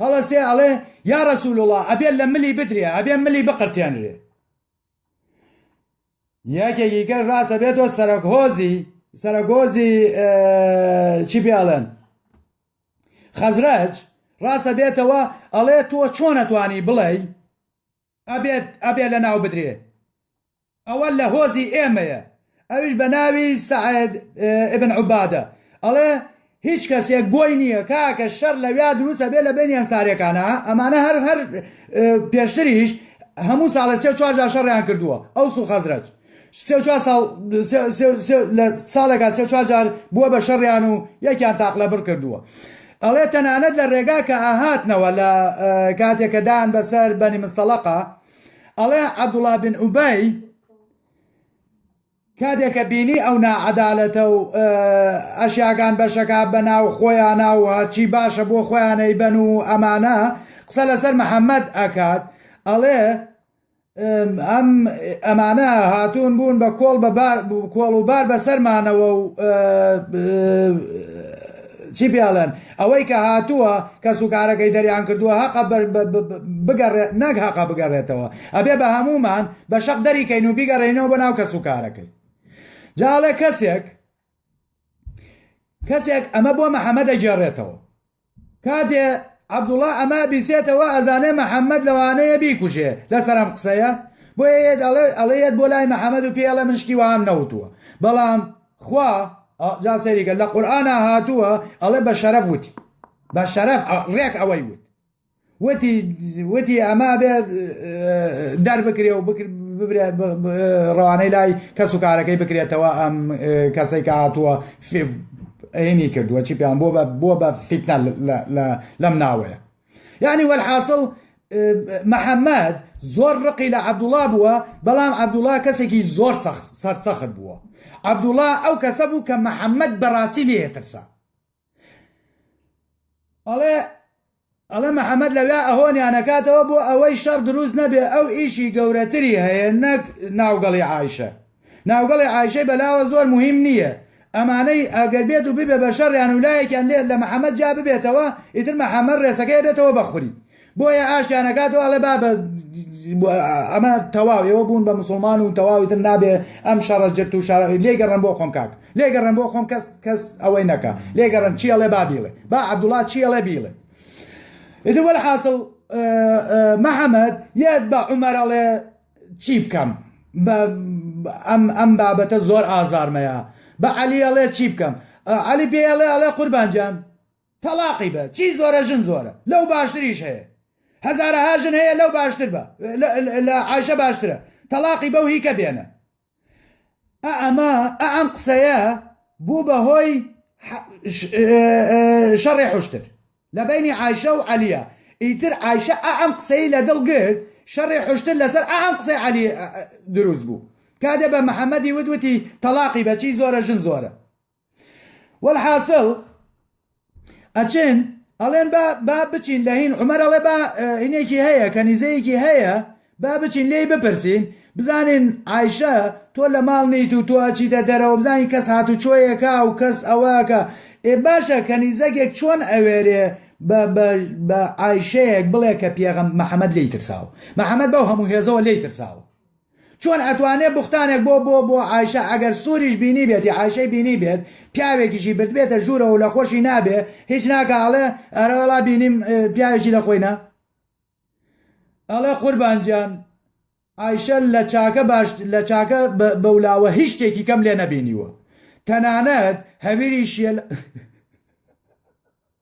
هەڵەسێ ئەڵێ یا رەسول وڵا ئەبێ لە ملی بدرێ ئەبێ ملی بقرتێنرێ یەکێکی کەش ڕاستە بێتەوە سەرەک هۆزی سەرەگۆزی چی پێڵێن خەزرەج ڕاستە بێتەوە ئەڵێ تۆ چۆن ئەتوانی بڵێی ئەبێت ئەبێ لە ناو بدرێ ئەوە لە هۆزی ئێمەیە ئەویش بە ناوی سەعد ابن عبادە ئەڵێ هیچ کەسێک بۆی نییە کاکە شەر لەویا دروستە بێ لە بینی ئەنسارەکانە ئەمانە هەر هەر پێشتریش هەموو ساڵە سێ چوارجار شەڕیان کردووە ئەوس و خەزرەج سێ و چوار ساڵ لە ساڵێکا سێ چوار جار بووە بە شەڕیان و یەکیان تاقلە بڕ کردووە ئەڵێ تەنانەت لە ڕێگا کە ئاهاتنەوە لە کاتێکە دان بەسەر بەنی مستەڵقا ئەڵێ عەبدوڵا بن ئوبەی کاتێکە بینی ئەو ناعەدالەتە و ئەشیاگان بەشەکە بەناو خۆیان ناو هەرچی باشە بۆ خۆیانەی بەن و ئەمانە قسە لەسەر محەممەد ئەکات ئەڵێ ئەم ئەمانە هاتوون بوون بە کۆڵ بە کۆڵ و بار بەسەرمانەوە و چی پێڵێن ئەوەی کە هاتووە کە سوکارەکەی دەریان کردووە هەقە بگەڕێت نەک هەقە بگەڕێتەوە ئەبێ بە هەمومان بە شەق دەریکەین و بیگەڕێنەوە بە ناو کە سوکارەکەی جاڵێ کەسێک کەسێک ئەمە بۆ محەممەد دەگێڕێتەوە کاتێ عبدوڵا ئەمە بیسێتەوە ئەزانێ محەممەد لەوانەیە بیکوژێ لەسەر ئەم قسەیە بۆیەت ئەڵێت بۆ لای محەممەد و پێڵە من شتی وام نەوتووە بەڵام خوا جا سەریکە لە قورآە هاتووە ئەڵێ بە شەرەف وتی بە شەرەف ڕێک ئەوەی وت وتی، ئەمە ئەبێت دەربکرێ و ڕەوانەی لای کەس و کارەکەی بکرێتەوە، ئەم کەسەی کە هاتووە ئەینی کردووە چی پێیان بووە بە فیتنە لەم ناوەیە. یعنی وەلحاسڵ محەممەد زۆر ڕقی لە عەبدوڵا بووە، بەڵام عەبدوڵا کەسێکی زۆر سەرسەخت بووە. عەبدوڵا ئەو کەسە بوو کە محەممەد بەڕاستی لێیەترسا. ئەڵێ ئەڵێ محەممەد لەویا ئەهۆنیان نەکاتەوە بۆ ئەوەی شەڕ دروست نەبێ ئەو ئیشی گەورەتری هەیە نەک ناوگەڵی عیشە ناوگەڵی عیشەی بەلاوە زۆر مهم نییە ئەمانەی ئەگەر بێت و ببێ بە شەڕیان و لایەکیان لێت لە محەممەد جا ببێتەوە ئیتر محەممەد ڕێسەکەی بێتەوە بەخوری بۆیە ئاشتیان ئەکات و ئەڵێ بابە ئەمە تەواو ئێوە بوون بە مسلمان و تەواوی تر نابێ ئەم شەڕە جرت و شارە لێگەڕم بۆ خۆم کاک لێگەڕم بۆ خۆم کەس کەس ئەوەی نەکە لێگەڕم چی ئەڵێ با بیڵێ با عەبدوڵا چی ئەڵێ بیڵێ ئیتر وەل حاصل محەممەد یاد بە عمەر ئەڵێ چی بکەم ئەم ئەم بابەتە زۆر ئازارمەیە بە عەلی ئەڵێ چی بکەم علی پێڵێ ئەڵێ قوربانجان تەڵاقی بە چی زۆرە ژن زۆرە لەو باشتریش هەیە هەزارەها ژن هەیە لەو باشتر بە لە عیشە باشترە تەلاقی بەو هیکە بێنە ئەمە ئەم قسەیە بوو بە هۆی شەڕێ حشتر لە بینی عیشە و عەلیە ئیتر عیشە ئەم قسەی لە دڵ گرت شەڕێ حشتر لەسەر ئەم قسەی علی دروست بوو کادێ بە محەممەدی ودوتی تەلاقی بەچی زۆرە ژن زۆرە والحاصل ئەچن ئەڵێن با با بچین لە هین عمر ئەڵێ با هینێکی هەیە کەنیزەیەکی هەیە با بچین لێی بپرسین بزانین ئایشە تۆ لە ماڵ نیت و تۆ ئەچی دە دەرەوە بزانین کەس هاتو چۆیەکە و کەس ئەوەکە ئێ باشە کەنیزەکێک چۆن ئەوێرێ بە ئایشەیەک بڵێ کە پێغم محەممەد لی ترساوە محەممەد بەو هەموو هێزەوە لی ترساوە چۆن ئەتوانێ بوختانێک بۆ بۆ بۆ عایشە ئەگەر سوریش بینیبێتی عایشەی بینیبێت پیاوێکیشی بردبێتە ژوورەوە و لەخۆشی نابێ هیچ ناکا ئەڵێ ئەرەوەڵا بینیم پیاوێکی لەخۆی نا ئەڵێ قوربان گیان عایشە لە چاکە باش لە چاکە بەولاوە هیچ شتێکی کەم لێ نەبینیوە تەنانەت هەویری شێل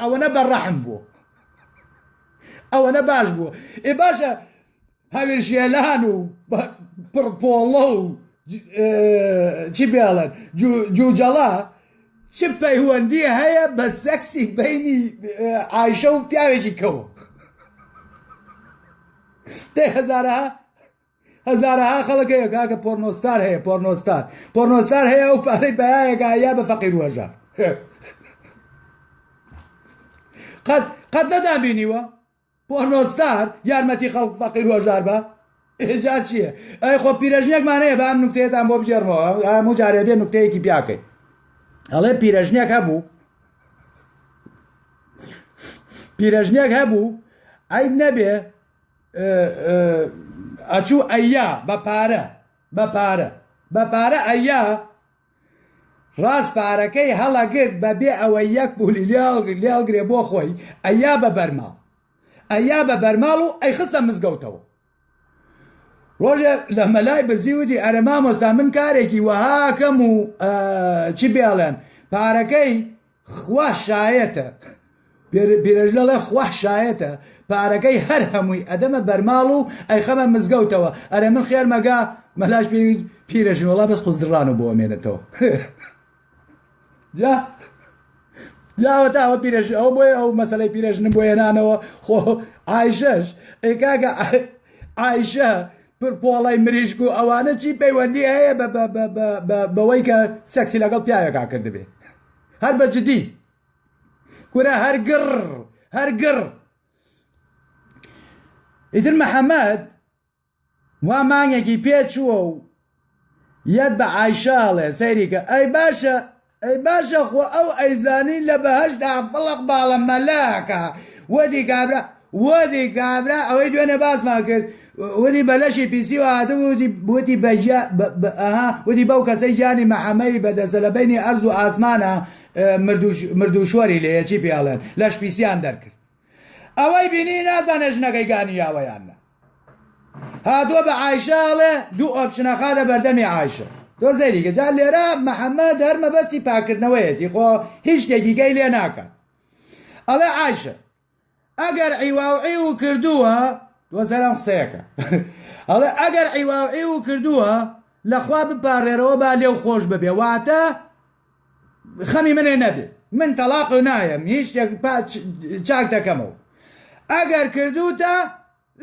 ئەوەنە بە ڕەحم بوو ئەوەنە باش بوو ئێ باشە هاوێژێلان و پڕپۆڵە و چی بێڵێن جوجەڵە چ پەیوەندی هەیە بە سەکسی بینی ئایشە و پیاوێکی کەوە دەهزارە هەزارەها خەڵک هەیە کاکە پۆرنۆستار هەیە پۆرنۆستار پۆرنۆستار هەیە ئەو پارەی بەیایەکە یا بە فەقیر وەژە قەت قەت نەدان بینیوە پۆرنۆستار یارمەتی خەڵک فەقیر وەژار بە ئێجا چییە ئەی خۆ پیرەژنێکمانەیە بە ئەم نوکتێتان بۆ بگێڕمەوە هەموو جارێ بێ نوکتەیەکی بیاکەین ئەڵێ پیرەژنێک هەبوو پیرەژنێک هەبوو ئەی نەبێ ئەچوو ئەیا بە پارە بە پارە بە پارە ئەیا ڕاست پارەکەی هەڵەگرت بە بێ ئەوە یەک بولی لێڵگرێ بۆ خۆی ئەیا بە بەرماڵ ئەیا بە بەرماڵ و ئەی خستە مزگەوتەوە ڕۆژێ لە مەلای بەزیوتی ئەرە مامۆستا من کارێکی وەهاکەم و چی بێڵێن پارەکەی خوا شایەتە پیرەژنەڵێ خوا شایەتە پارەکەی هەر هەمووی ئەدەمە بەرماڵ و ئەیخەمە مزگەوتەوە ئەرێ من خێر مەگا مەلاش پێ پیرەژنۆڵا بەس قوزدڕان و بۆ ئەمێنێتەوە جا جاوەتا ئەوە پیرەژ ئەو بۆیە ئەو مەسلەی پیرەژن بۆ هێنانەوە خۆ ئایشەش ئێکاگە ئایشە پرپۆڵی مریشک و ئەوانە چی پەیوەندی هەیە بەوەی کە سەکسی لەگەڵ پیاوێکا کردبێ هەر بە جدی کورە هەرگڕ هەرگڕ ئیتر محەممەد وا مانگێکی پێچووە و یەت بە ئایشاڵێ سەیریکە ئەی باشە ئەی باشە خۆ ئەو ئەیزانی لە بەهشت ئافڵق باڵە مەلاکە وەدی کابرا ووتی کابرا ئەوەی دوێنێ باسمان کرد ووتی بە لەشی پیسیوە هاتبوو ووتی ووتی بە گیا بە بە ئەها ووتی بەو کەسەی گیانی مەحەمەی بەدەستە لە بەینی ئەرز و ئاسمانا مرد و مرد و شۆری لێیە چی پێی ئەڵێن لەش پیسیان دەرکرد ئەوەی بینی نازانێ ژنەکەی گانییاوە یان نە هاتووە بە عایشە ئەڵێ دوو ئۆپشنە خاتە بەردەمی عایشە تۆ زەیری کە جا لێرە مەحەممەد هەر مەبەستی پاکردنەوەیەتی خۆ هیچ شتێکی گەی لێ ناکات ئەڵێ عایشە ئەگەر عیواوعیوو کردووە، دوازدە لام قسەیەکە، ئەڵێ ئەگەر عیواوعیوو کردووە لەخوا بپارێرەوە با لێو خۆش ببێ واتە خەمی منێ نەبێ من تەڵاق نایەم هیچ شتێک چاک دەکەمەوە ئەگەر کردوتە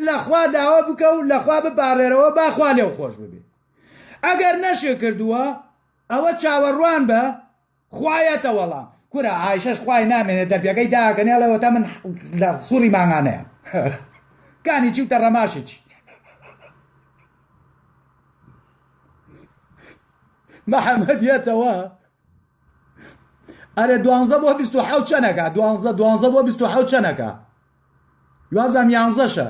لەخوا داوا بکە و لەخوا بپارێرەوە باخوا لێو خۆش ببێ ئەگەر نەشێ کردووە ئەوە چاوەڕوان بە خوایەتە وەڵام کورە ئایشەش خوای نامێنێ دەرگەکەی داکەنێ ئەڵێوەتە من لە سوڕی مانگانەیە کانی چی و تەڕەماشی چی محەممەد یەتەوە ئەرێ دوانزە بۆ بیست و حەوت چەنەکە دوانزە دوانزە بۆ بیست و حەوت چەنەکە دوازم یانزەشە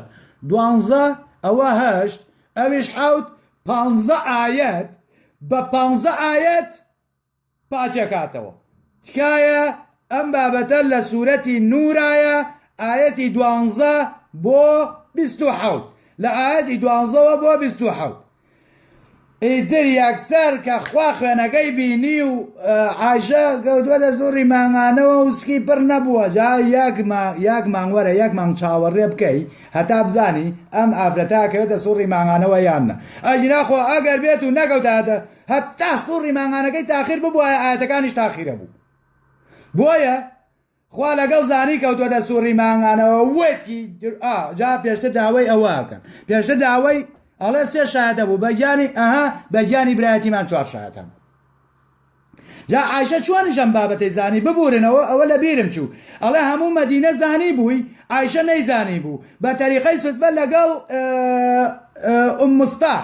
دوانزە ئەوە هەشت ئەویش حەوت پانزە ئاەت بە پانزە ئاەت پاچەکاتەوە تکایە ئەم بابەتە لە سورەتی نورایە ئایەتی دوانزە بۆ بیست و حەوت لە ئایەتی دوانزەوە بۆ بیست و حەوت ئیتر یەکسەر کە خوا خوێنەکەی بینی و عایشە گەوتوەتە زوڕی مانگانەوە و سکی پڕ نەبووە جا یەک مانگ وەرە یەک مانگ چاوەڕێ بکەی هەتا بزانی ئەم ئافرەتە کەوێتە سوڕی مانگانەوە یان نە ئەژینا خۆ ئەگەر بێت و نەکەوتایەتە هەتا سوڕی مانگانەکەی تاخیر ببوایە ئایەتەکانیش تاخیرە بوو بۆیە خوا لەگەڵ زانی کەوتوەتە سوڕی مانگانەوە وەتی جا پێشتر داوای ئەوەکەن پێشتر داوای ئەڵێ سێ شایەتە بوو بەگیانی ئەها بەگیانی برایەتیمان چوار شایەتە بوو جا عیشە چۆنیشم بابەتی زانی ببورنەوە ئەوە لە بیرم چوو ئەڵێ هەموو مەدینە زانی بووی عیشە نەیزانی بوو بە تەریقەی سفە لەگەڵ ئوم مستاح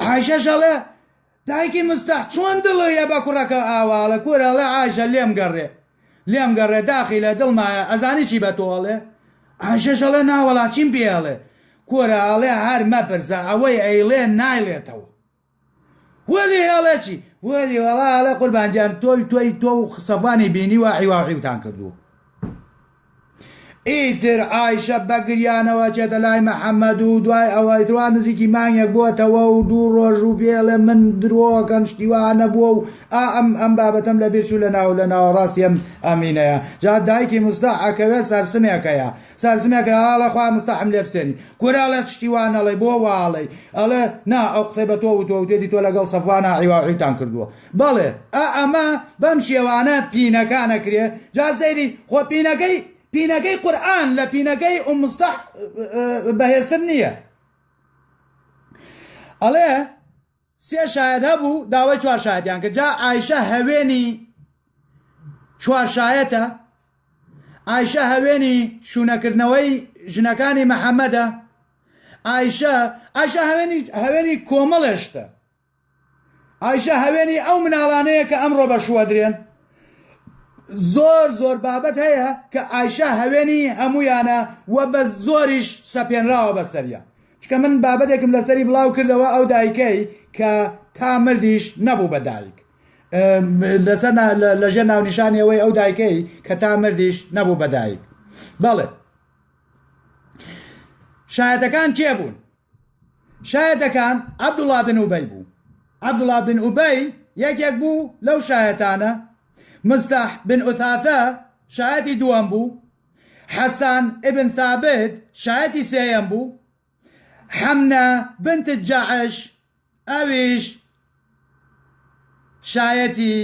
عایشەش ئەڵێ دایکی مستەح چۆن دڵیە بە کوڕەکە ئاواڵە کورە ئەڵێ عایشە لێم گەڕێ لێم گەڕێ داخی لە دڵمایە ئەزانی چی بە تۆ ئەڵێ عایشەش ئەڵێ ناوەڵا چیم پێ ئەڵێ کورە ئەڵێ هەر مەپرسە ئەوەی ئەیڵێ نایڵێتەوە وەلی ئەڵێ چی وەلی وەڵا ئەڵێ قوربانجان تۆی تۆی تۆ و سەفوانی بینیوە عیواعیوتان کردووە ئیتر عایشە بە گریانەوە چێتە لای محەممەد و دوای ئەوەی توا نزیکی مانگێک بووەتەوە و دوو ڕۆژ و بێڵێ من درۆکەم شتیوا نەبووە و ئا ئەم ئەم بابەتەم لە بیرچوو لە ناو لە ناوەڕاستی ئەم ئەمینەیە جا دایکی مستەح ئەکەوێ سەرسمێکەیە سەرسمێکە ئەڵێ خوا مستەحم لێ بسێنی کورە ئەڵێ شتی وا نەڵێی بۆ وا ئەڵێی ئەڵێ نا ئەو قسەی بە تۆ وتووە وتێتی تۆ لەگەڵ سەفوانا عیواعیتان کردووە بەڵێ ئا ئەمە بەم شێوانە پینەکان ئەکرێ جا سەیری خۆ پینەکەی پینەکەی قورئان لە پینەکەی ئوم مستەح بەهێزتر نییە ئەڵێ سێ شاید هەبوو داوای چوار شایدیان کرد جا ئایشە هەوێنی چوار شایەتە ئایشە هەوێنی شوونەکردنەوەی ژنەکانی محەممەدە ئایشە ئایشە هەوێنی هەوێنی کۆمەڵێشتە ئایشە هەوێنی ئەو مناڵانەیە کە ئەمڕۆ بە شووەدرێن زۆر زۆر بابەت هەیە کە ئایشە هەوێنی هەمویانە و بە زۆریش سەپێنراوە بەسەریا چکە من بابەتێکم لەسەری بڵاو کردەوە ئەو دایکەی کە تا مردیش نەبوو بە دایک لەسەر لەژێر ناونیشانەوەی ئەو دایکەی کە تا مردیش نەبوو بە دایک بەڵێ شایەتەکان کێ بوون شایەتەکان عەبدوڵا بن ئوبەی بوو عەبدوڵا بن ئوبەی یەکێک بوو لەو شایەتانە مستاح بن ئوثاثە شایەتی دووەم بوو حەسان ئبن ثابت شایەتی سێیەم بوو حەمنە بنت جەعش ئەویش شایەتی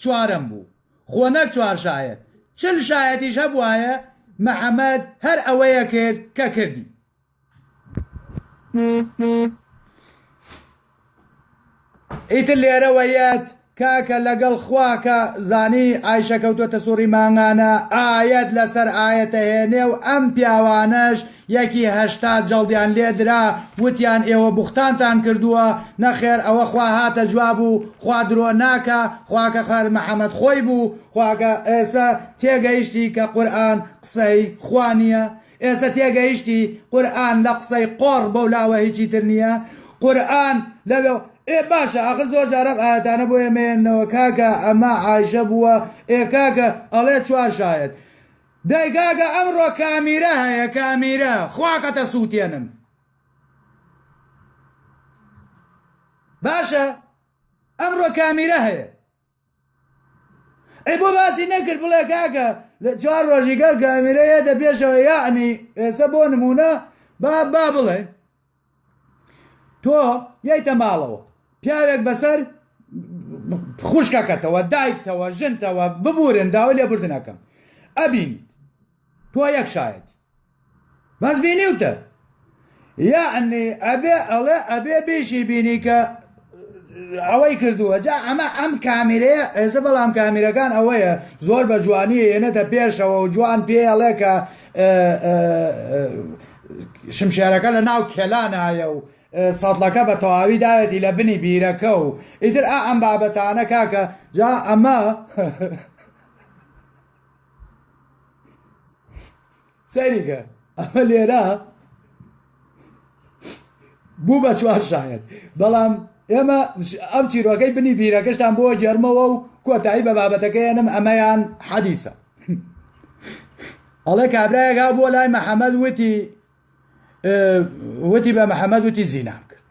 چوارەم بوو خۆ نەک چوار شایەت چل شایەتیش هەبوایە محەممەد هەر ئەوەیە کرد کە کردی ئیتر لێرەوە یەت کاکە لەگەڵ خوا کە زانی ئایشە کەوتۆتە سوڕی مانگانە ئایەت لەسەر ئایەتە هێنێ و ئەم پیاوانەش یەکی هەشتا جەڵدیان لێدرا وتیان ئێوە بوختانتان کردووە نەخێر ئەوە خوا هاتە جواب و خوا درۆ ناکە خواکە خەر محەمەد خۆی بوو خواکە ئێسە تێگەیشتی کە قورئان قسەی خوانیە ئێسە تێگەیشتی قورئان لە قسەی قۆڕ بەو لاوە هیچی تر نیە قورئان لە ئێ باشە ئاخر زۆر جار ئەم ئایەتانە بۆ ئێمە ێننەوە کاکە ئەمە عایشە بووە ئێ کاکە ئەڵێ چوار شایەت دای کاکە ئەمڕۆ کامیرە هەیە کامیرە خواکەتە سووتێنم باشە ئەمڕۆ کامیرە هەیە ئەی بۆ باسی نەکرد بڵێ کاکە لە چوار ڕۆژی گەڵ کامیرە یەتە پێشەوە یاعنی ئێستا بۆ نمونە با با بڵێ تۆ یەیتە ماڵەوە پیاوێک بەسەر خوشکەکەتەوە دایکتەوە ژنتەوە ببورن داوای لێبوردنەکەم ئەبینیت تۆ یەک شایەتی بەس بینیوتە یعنی ئەبێ ئەڵێ ئەبێ بێشی بینی کە ئەوەی کردووە جا ئەمە ئەم کامیرەیە ئێسە بەڵام کامیرەکان ئەوەیە زۆر بە جوانی ێنێتە پێشەوە و جوان پێڵێ کە شمشێرەکە لە ناو کێلانایە و سەڵەکە بە تەواوی داوێتی لە بنی بیرەکە و ئیتر ئا ئەم بابەتانە کاکە جا ئەمە سەیریکە ئەمە لێرە بوو بە چوار شاعر بەڵام ئێمە ئەم چیرۆکەی بنی بیرەکەشتان بۆ جێرمەوە و کۆتایی بە بابەتەکەیانم ئەمەیان حەدیسە ئەڵێ کابراەکە بۆ لای محەممەد وتی وتی بە محەممەد وتی زینام کرد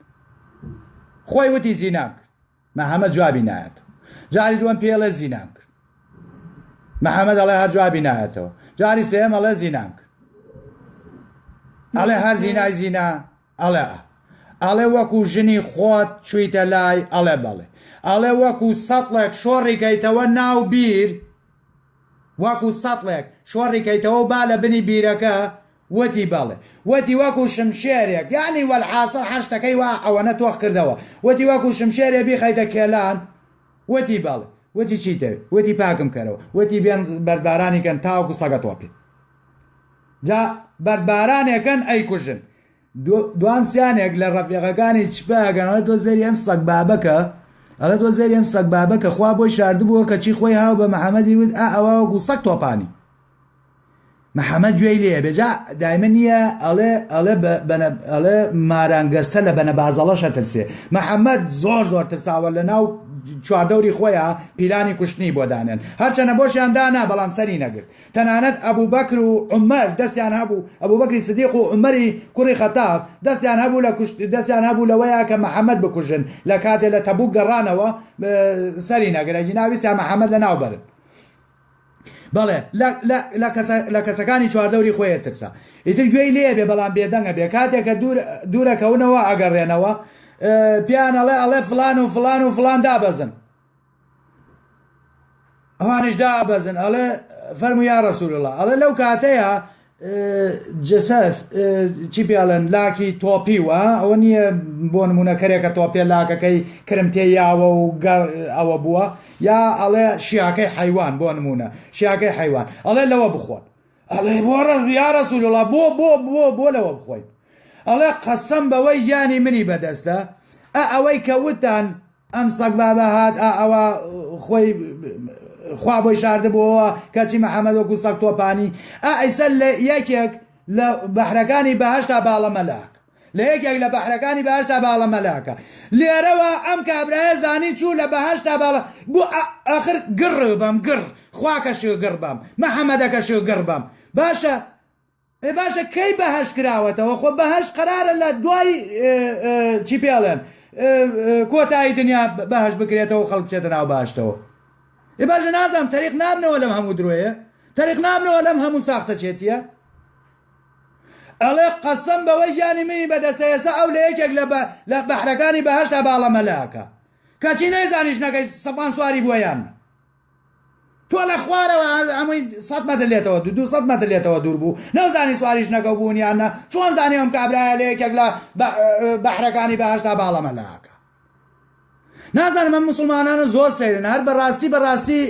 خۆی وتی زینام کرد محمد جوابی نایەتەوە جاری دووەم پێ ئەڵێ زینام کرد محمد ئەڵێ هەر جوابی نایەتەوە جاری سێم ئەڵێ زینام کرد ئەڵێ هەر زینای زینا ئەڵێ ئەڵێ وەکو ژنی خۆت چویتە لای ئەڵێ بەڵێ ئەڵێ وەکو سەڵێک شۆڕیکەیتەوە ناو بیر وەکو سەڵێک شۆڕیکەیتەوە با لە بنی بیرەکە وتی بەڵێ وتی وەکو شمشێرێک یانی وەلحاسڵ حەشتەکەی وا ئەوەنە تۆخ کردەوە وتی وەکو شمشێرێ بیخەیتە کێلان وتی بەڵێ وتی چی دەوێت وتی پاکم کەرەوە وتی بێن بەردبارانی کەن تاوەکو سەگە تۆپی جا بەردبارانێکەن ئەیکوژن دوان سیانێک لە ڕەفیقەکانی چپاگەنەوە تۆ زەری ئەم سەگ بابەکە ئەڵە تۆ زەری ئەم سەگ بابەکە خوا بۆی شاردبووە کەچی خۆی هاو بە محەممەدی وت ئا ئەوە وەکو سەگ تۆپانی محمد گوێی لێ بێ جا دایمە نییە ئەڵێ ئەڵێ ئەڵێ ماران گەستە لە بەنە بازەڵەشە ترسێ محەممەد زۆر زۆر ترساوە لە ناو چواردەوری خۆیان پیلانی کوشتنی بۆ دانێن هەرچەنە بۆشیان دانا بەڵام سەری نەگرت تەنانەت ئەبوو بەکر و عمەر دەستیان هەبوو ئەبوو بەکری سدیق و عمەری کوڕی خەتاب دەستیان هەبوو لە کوشت دەستیان هەبوو لەوەیە کە محەممەد بکوژن لە کاتێ لە تەبوو گەڕانەوە سەری نەگرە جناویستیان محەممەد لە ناوبەرن بەڵێ لە کەسەکانی چواردەوری خۆی ئەترسا ئیتر گوێی لێ بێ بەڵام بێدەنگە بێ کاتێک کە دوورەکەونەوە ئەگەڕێنەوە پیان ئەڵێ ئەڵێ فلان و فلان و فلان دابەزن ئەوانش دابەزن ئەڵێ فەرمو یا ڕسول الله ئەڵێ لەو کاتەیە جسس چی پێڵێن لاکی تۆپی و ئەوە نییە بۆ نمونە کەرێکە تۆپێ لاکەکەی کرمتێ یاوە و گەڕ ئەوە بووە یا ئەڵێ شیاکەی حیوان بۆ نمونە شیاکەی حیوان ئەڵێ لەوە بخۆن ئەڵێ بۆڕە یارە سولوڵا بۆ بۆ بۆ بۆ لەوە بخۆین ئەڵێ قەسەم بەوەی ژیانی منی بەدەستە ئە ئەوەی کە وتان ئەم سەگ بابە هات ئا ئەوە خۆی خوا بۆی شاردبووەوە کەچی محەممەد وەکو سەگ تۆپانی ئا ئەیسەر لە یەکێک لە بەحرەکانی بەهشتا باڵە مەلاک لە یەکێک لە بەحرەکانی باشدا باڵە مەلاکە لێرەوە ئەم کابرایە زانی چوو لە بەهشتا باڵە بۆ ئاخر گڕ بەم گڕ خواکە شگڕ بەم محەممەدەکە شگڕ بەم باشە ئێ باشە کەی بەهەشت کراوەتەوە خۆ بەهەشت قەرارە لە دوای چی پێڵێن کۆتایی دنیا بەهەشت بکرێتەوە خەڵک بچێتە ناو باشتەوە ئێ باشە نازانم تەریق نابنەوە لەم هەموو درۆیە تەریق نابنەوە لەم هەموو ساختەچێتیە ئەڵێ قەسەم بەوەی گیانی منی بەدەسە ئێسا ئەو لە یەکێک لە بەحرەکانی بەهەشتا باڵەمەلاکە کەچی نەیزانیش نەکەی سەپان سواری بووە یان تۆ لە خوارەوە ئەمەی سەد مەتر لێتەوە دو دو سەد مەتر لێتەوە دوور بوو نەوزانی سواریش نەکەو بوون یان نە چۆن زانانی ئەم کابراە لە یەکێک لە بەحرەکانی بەهشتا باڵەمە لاکە نازانم ئەم مسلمانانە زۆر سەیرن هەر بەڕاستی بەڕاستی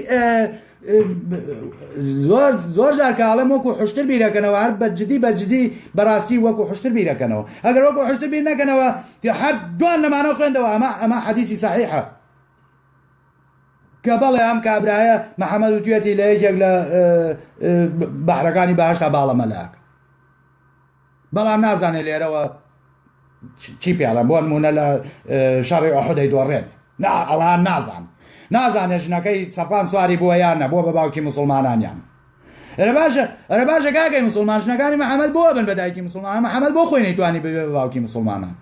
زۆر زۆر جارکاڵم وەکو حشتر بیرەکەنەوە هەر بەجددی بەجددی بەڕاستی وەکو حشتر بیرەکەنەوە ئەگەر وەکو حشتر بیر نەکەنەوە هەر دوان لەمانەوە خوێندەوە ئەمە ئەمە حەدیسی سەحیحە کە بەڵێ ئەم کابرایە محەمەد وتوێتی لە یەکێک لە بەحرەکانی باشتا باڵە مەلاک بەڵام نازانێت لێرەوە چی پیاڵە بۆ نمونە لە شەڕی ئۆحدەی دۆڕێن نا ئەوان نازان نازانێت ژنەکەی سەفان سواری بووە یان نەبووە بە باوکی مسلمانانیان ئەرە باشە ئەرە باشە کاکەی مسلمان ژنەکانی محەممەد بۆ بن بە دایکی مسلمان محەممەد بۆ خۆی نەیتوانی ببێ بە باوکی مسلمانان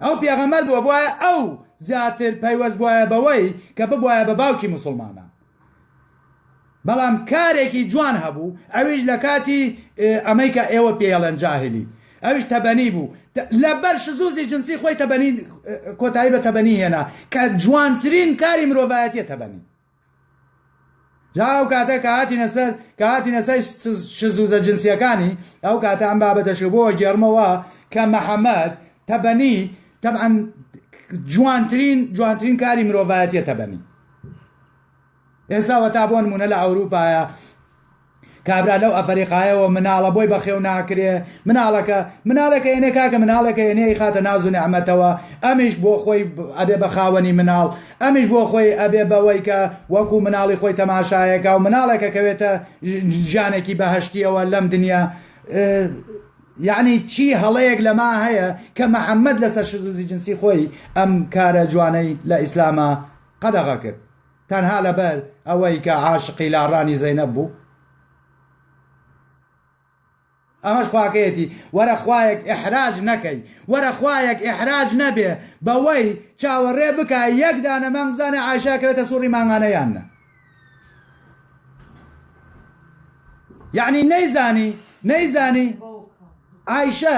ئەو پێغەمبەر بووە بۆیە ئەو زیاتر پەیوەست بووایە بەوەی کە ببوایە بە باوکی موسڵمانان بەڵام کارێکی جوان هەبوو ئەویش لە کاتی ئەمەی کە ئێوە پێڵەن جاهلی ئەوش تەبەنی بوو لەبەر شزوزی جنسی خۆی تەبەنی کۆتایی بە تەبەنی هێنا کە جوانترین کاری مرۆڤایەتە تەبەنی جا ئەو کاتە کە هاتینە سەر کە هاتینە سەر شزوزە جنسیەکانی ئەو کاتە ئەم بابەتەش بۆ گێرمەوە کە محەممەد تەبەنی تەعاان جوانترین جوانترین کاری مرۆڤایەتە تەبەنی ئێساوە تا بۆن مونە لە ئەوروپایە کابرا لەو ئەفەریقایەوە مناڵە بۆی بەخێو ناکرێ مناڵەکە مناڵەکە ئێنێ کاکە مناڵەکە ئێنێ خاتە ناز و نعمەتەوە ئەمیش بۆ خۆی ئەبێ بە خاوەنی مناڵ ئەمیش بۆ خۆی ئەبێ بەوەی کە وەکو مناڵی خۆی تەماشایەکە و مناڵەکە کەوێتە ژانێکی بەهشتیەوە لەم دنیا یعنی چی هەڵەیەک لەما هەیە کە محەممەد لەسەر شزوزی جنسی خۆی ئەم کارە جوانەی لە ئیسلامە قەدەغە کرد تەنها لەبەر ئەوەی کە عاشقی لاڕانی زەینەب بوو ئەمەش خواکەیەتی وەرە خوایەک ئحراج نەکەی وەرە خوایەک ئحراج نەبێ بەوەی چاوەڕێ بکە یەک دانە مانگ بزانە ئاشاکەوێتە سوڕی مانگانە یان نە یعنی نەیزانی نەیزانی ئایشە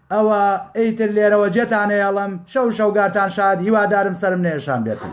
ئەوە ئیتر لێرەوە جێتان ئەیەڵم شەو شەوگارتان شاد هیوادارم سەرم نەیەشان بێتن.